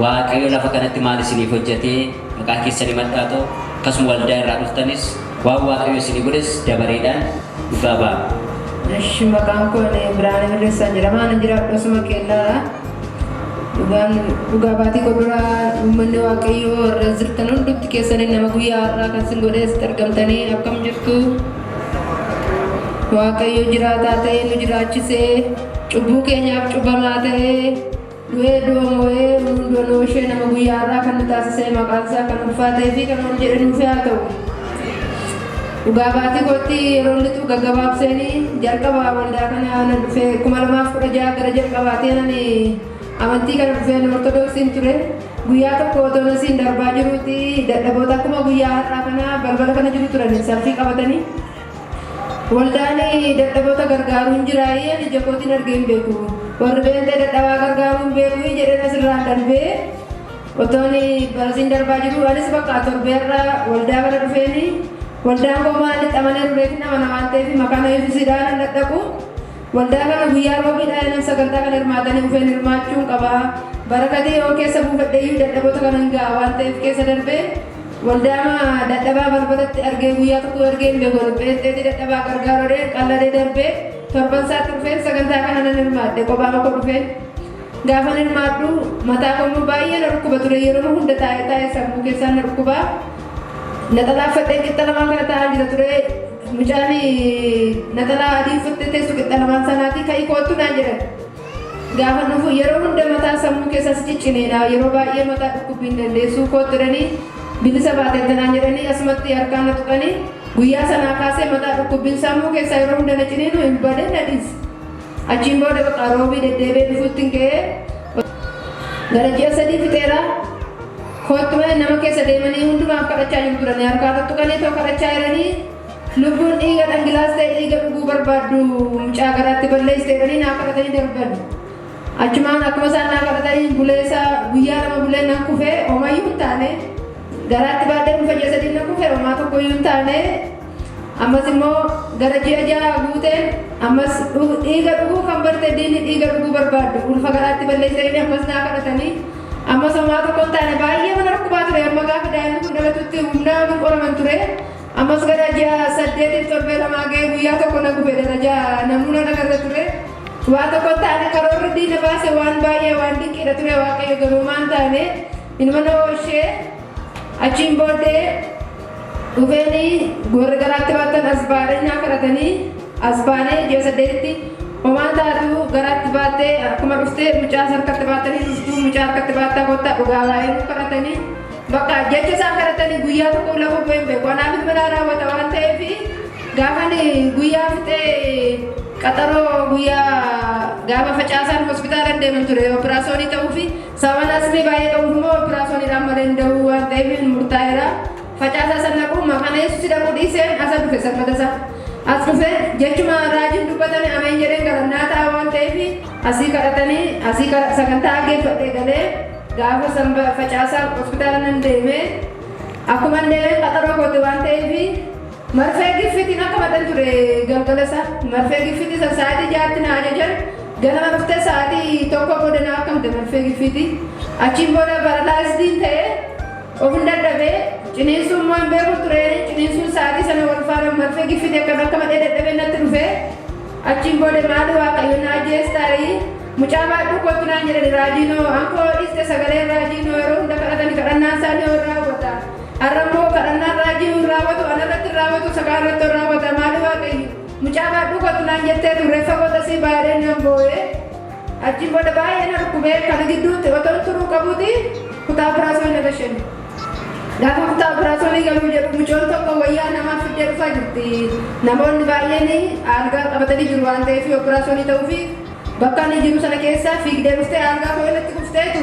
waaqayyo lafa kanatti maal isiniif hojjetee maqaa keessan himadhaa ta'u akkasuma waldaa irraa dhuftanis waan waaqayyo isinii godhes dabareedhaan dhugaa ba'a. Eshi maqaan koo ani Birhaanee Mirreessaa jedhama. Ani jiraadhu asuma Keellaadha. Dhugaan dhugaa baatii qoduraa uummanni waaqayyoo irra jirtan hundumti keessanii nama guyyaa har'aa kan sin godhees argamtanii akkam jirtu waaqayyo jiraataa ta'ee nu jiraachisee cubbuu keenyaaf cubbamaa ta'ee du'ee du'a moo'ee hundoo noo ishee nama guyyaa har'aa kan nu taasisee maqaan isaa kan ulfaatee fi kan ol jedhe nuuf haa ta'u. Dhugaa baatii kootti yeroon lixu gaggabaabseeni jalqaba waldaa kana nan dhufe 2016 gara jalqabaati nan amantii kana dhufeen ortodoksiin ture guyyaa tokko otoo nasiin darbaa jiruuti dadhaboota akkuma guyyaa har'aa kana balbala kana jiru turan salfii qabatanii waldaan dadhaboota gargaaruu hin jiraayee ani jakootiin argee hin beeku warri beentee dadhabaa gargaaruu hin beeku jedheen asirraa darbee Otoon barasiin darbaa jiruu anis bakka torbee irra waldaa bira dhufeeni waldaan koo maali xamanee ruleetiin amana waan ta'eef makaana yesuusidhaa nan dhadhaqu waldaa kana guyyaa roobiidhaa yanan sagantaa kana hirmaatanii dhufeen hirmaachuun qaba barakatii yoo keessa buufadheeyyuu dadhaboota kanan ga'a waan ta'eef keessa darbee waldaama dadhabaa balbalatti argee guyyaa tokko argeen beeku dhipheetti dadhabaa gargaarodhee qalladee darbee torban isaatti dhufeen sagantaa kana nan hirmaadhe kophaa koo dhufeen Gaafan hirmaadhu mataa koo immoo baay'ee na dhukkuba ture yeroo hunda taa'ee taa'ee sammuu keessaan na dhukkuba. Naxalaa uffadhee qixxa lamaan kana taa'an jira ture. Mucaan naxalaa adii uffattee teessu qixxa lamaan sanaati ka'ii koottu naan jedhan. Gaafa dhufu yeroo hunda mataa sammuu keessaas ciccineedha yeroo baay'ee mataa dhukkubbii hin dandeessuu koottu jedhanii bilisa baateetta naan jedhanii asumatti harkaan na tuqanii guyyaa sanaa kaasee mataa dhukkubbiin sammuu keessaa yeroo hunda na ciniinu hin badee na dhiise. Achiin booda bakka roobii deddeebi'ee dhufuttin ga'ee gara ji'a sadii fixeera. Kottume nama keessa deemanii hundumaaf kadhachaa jiru turanii harkaa tuttuqanii too kadhachaa jiranii lubbuun dhiiga dhangilaaste dhiiga dhuguu barbaaddu mucaa garaatti balleessite jedhanii naa kadhatanii darban. Achumaan akkuma isaan naa kadhatanii buleessa guyyaa lama bulee nan kufee homayyuu hin taane garaatti baadhee dhufa ji'a sadii nan kufee homaa tokkoyyuu hin taane Ammas immoo gara ji'a ja'a guuteen ammas dhiiga dhuguu kan barte diinni dhiiga dhuguu barbaaddu ulfa garaatti balleessanii ammas naa kadhatanii ammas homaa tokko hin taane baay'ee mana dhukkubaa ture amma gaafa daa'imni kun dhalatutti humnaa hin qoraman ture ammas gara ji'a saddeetiif torbee lamaa ga'ee guyyaa tokko na gube darajaa namuuna dhagarra ture waa tokko hin taane karoorri diina baase waan baay'ee waan dinqiidha ture waaqayyo garuu maan taane ilma nama ishee Achiin booddee dhufeenii warri garaatti baatan asbaadee nyaa kadhatanii asbaanee ji'a saddeetitti homaa taatuu garaatti baattee akkuma dhuftee mucaas harkatti baattanii dhuftuu mucaa harkatti baattaa kottaa dhugaa baay'ee nu kadhatanii bakka jecha isaan kadhatanii guyyaa tokko lafuu bu'een beeku anaaf ilmalaa raawwata waan ta'eef gaafan guyyaa fixee qaxaroo guyyaa gaafa facaasaan hospitaala deeman ture operaasyoonii ta'uu fi Sababaan asmii baay'ee qabuuf immoo operaasoniidhaan malee hin da'uu waan ta'eef murtaa'eera. Facaasaa san dhaquu maqaan Yesuusi dhaquu dhiiseen asa dhufe salphata isaa. As dhufe jechuma raajiin dubbatame ameen jedheen galannaa ta'a waan ta'eef asii kadhatanii asii sagantaa aggeeffadhee galee gaafa sanba facaasaa hospitaala nan deeme akkuma deemeen qaxaroo kooti waan ta'eef Marfee giffitiin akka madhan ture galgala isaa. Marfee giffitii san sa'aatii ja'atti na ajajan. Ganama dhuftee sa'aatii tokko booda na akkamte marfee giffitii. Achiin booda paralaayizdiin ta'ee ofin dadhabee ciniinsuu immoo hin beeku ture. Ciniinsuun sa'aatii sana wal faana marfee giffitii akkan akka madhee dadhabee natti dhufe. Achiin booda maali waaqayyo na ajjeestaayi. Mucaa baadhuu kootu naan jedhani raajiinoo ankoo dhiiste sagalee raajiinoo yeroo hunda kadhatani kadhannaan isaanii warraa hubata. Har'a immoo kadhannaan raajii nuun raawwatu ana irratti hin raawwatu isa kaan irratti ol raawwata maali waaqayyo mucaa baadhuu kootu naan jettee turre fagoo tasii baay'ee nan boo'ee achiin booda baay'ee na dhukkubee kana gidduutti otoon turuu qabuuti kutaa biraasoo na gashan gaafa kutaa biraasoo ni galuu jedhu mucoon tokko wayyaa namaaf fiddee dhufaa jirti namoonni baay'een aalgaa qabatanii jiru waan ta'eef yoo biraasoo ni ta'uu fi bakka inni jiru sana keessa fiigdee dhuftee aalgaa koo irratti kufteetu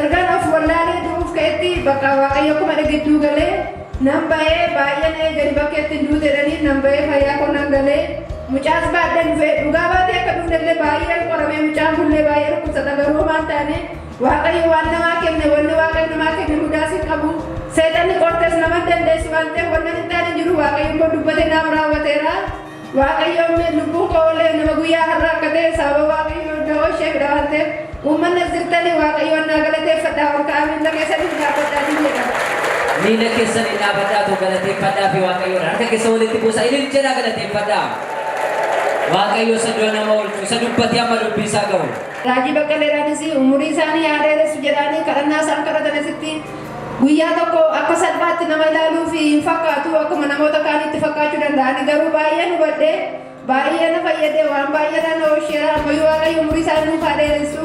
Ergan of wallaalee du'uuf ka'etti bakka Waaqayyo akkuma na gidduu gale nan ba'ee baay'een eegani bakkeetti hin duute jedhaniin nan ba'ee fayyaa koo nan gale mucaas baadhee dhufe dhugaa baatee akka dhufnellee baay'een qoramee mucaan kunillee baay'ee dhukkubsata garuu homaa hin taane Waaqayyo waan namaa kenne wanni Waaqayyo namaa kenne hundaas hin qabu seexanni qortes nama hin dandeessu waan ta'eef wanna hin taane hin jiru Waaqayyo immoo dubbate naaf raawwateera. Waaqayyo uumeen lubbuun koo olee nama guyyaa har'a akka ta'e sababa waaqayyo da'oo ishee bira waan ta'eef uummanni as jirtanii waaqayyoon naa galateeffadhaa ol ka'aa miila keessaniif dhaabbadhaa ni jedha. Miila keessaniif dhaabbadhaa too galateeffadhaa fi waaqayyoon harka keessa walitti buusa ilil jedhaa galateeffadhaa. Waaqayyo isa du'a nama oolchu isa dubbatee amma dubbii isaa ga'u. Raajii Baqqaleeraanis umurii isaanii haa dheeressu jedhaanii kadhannaa isaan kadhatan asitti Guyyaa tokko akka salphaatti nama ilaaluuf hin fakkaatu, akkuma namoota kaanitti fakkaachuu danda'a. Ani garuu baay'een hubadhe, baay'ee na fayyade, waan baay'eerraa na oolcheera. Ammayyuu Waaqayyo umurii isaa nuuf haa dheeressu.